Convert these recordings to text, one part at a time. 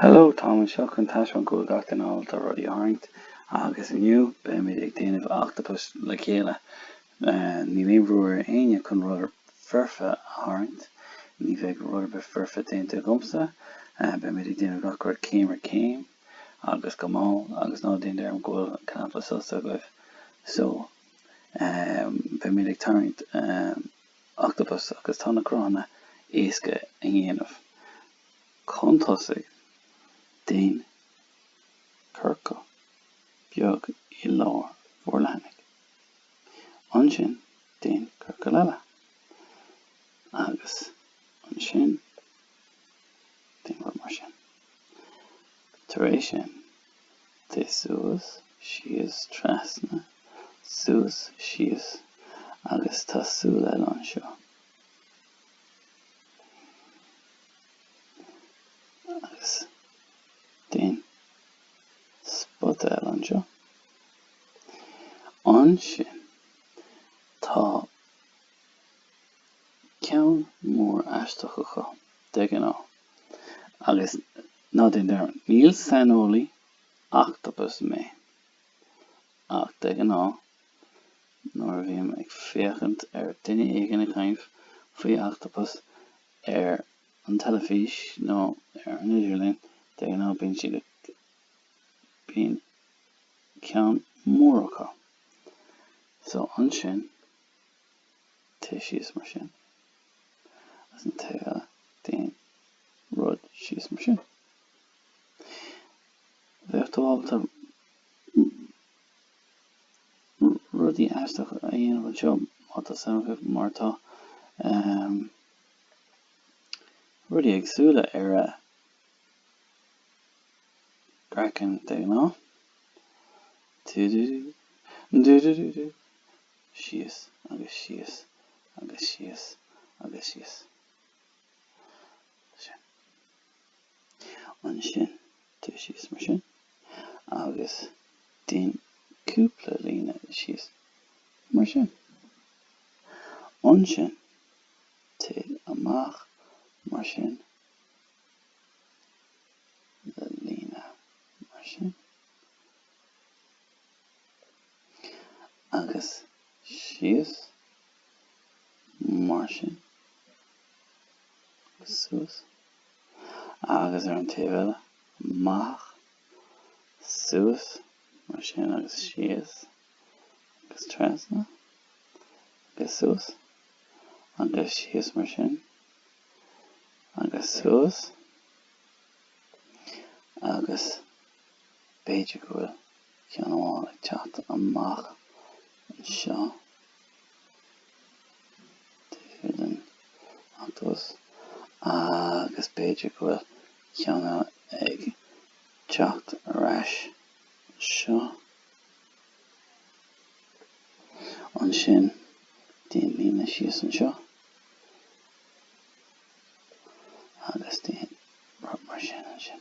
Hello, Táim anseo chun taispeáint go bhfuil gach duine ábalta rudaí a tharraingt agus inniu beimid ag déanamh octopus le chéile. Níl aon bhrú ar éinne chun rud foirfe a tharraingt. Ní bheidh rud ar bith foirfe déanta agamsa. Beimid ag déanamh gach rud céim ar chéim agus go mall agus ná déan dearmad go bhfuil cnaipe sosa agaibh. So. beimid ag tarraingt octopus agus tá na cruthanna éasca a dhéanamh. Chun tosú, déan ciorcal beag i lár bhur leathanaigh. Ansin, déan ciorcal eile. Agus ansin, déan U mar sin. Tar éis sin, Téigh suas, síos, trasna, suas, síos agus tá súil eile anseo. Agus déan spota eile anseo. Ansin tá ceann mór aisteach acu, de ghnáth. Agus. Ná déan dearmad, ní saineolaí ochtapais mé, ach de ghnáth nuair a bhím ag féachaint ar duine éigin ag caint faoi ochtapas ar an teilifís nó ar an idirlíon, de ghnáth bíonn siad ag. bíonn ceann mór acu. So ansin Téigh síos mar sin. Agus an taobh eile, déan rud síos mar sin. Bheadh tú ábalta rudaí aisteacha a dhéanamh anseo má tá suim agaibh, mar tá rudaí éagsúla ar a gcraiceann de ghnáth. Dú-dú-dú. Dú-dú-dú-dú. síos agus síos agus síos agus síos. Sin. Ansin, téigh síos mar sin agus déan cúpla líne síos mar sin. Ansin, téigh amach mar sin le líne mar sin. agus síos, mar sin, agus suas, agus ar an taobh eile, amach, suas, mar sin, agus síos, agus trasna, agus suas, agus síos, mar sin, agus suas, agus b'fhéidir go bhfuil. ceann amháin ag teacht amach anseo taobh den ochtapas agus b'fhéidir go bhfuil ceann eile ag teacht ar ais anseo. Ansin déan líne síos anseo agus déan rud mar sin ansin.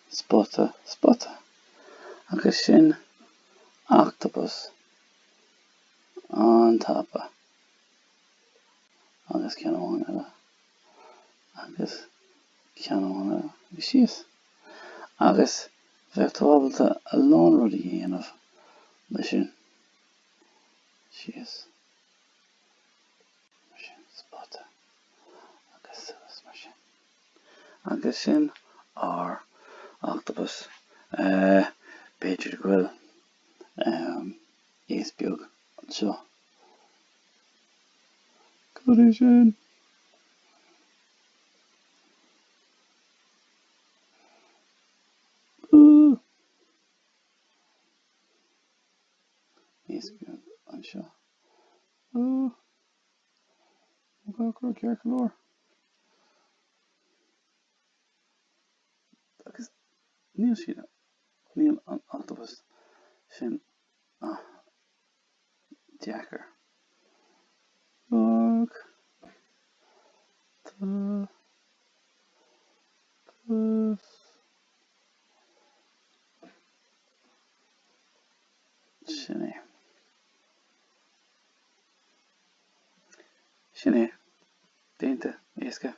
Spota, spota. Agus sin ochtapas an-tapa. Agus ceann amháin eile. Agus ceann amháin eile. Agus síos. Agus bheadh tú ábalta a lán rudaí a dhéanamh leis sin. Síos. Mar sin. Spota. Agus suas mar sin. Agus sin ár Ochtapas. B'fhéidir go bhfuil iasc beag anseo cad é sin. Iasc beag anseo. An Cócaire Circe Mór Agus níl siad ann. Níl an octopus sin ach deacair. Bog. Tá. Gus. Sin é. Sin é. Déanta. Éasca.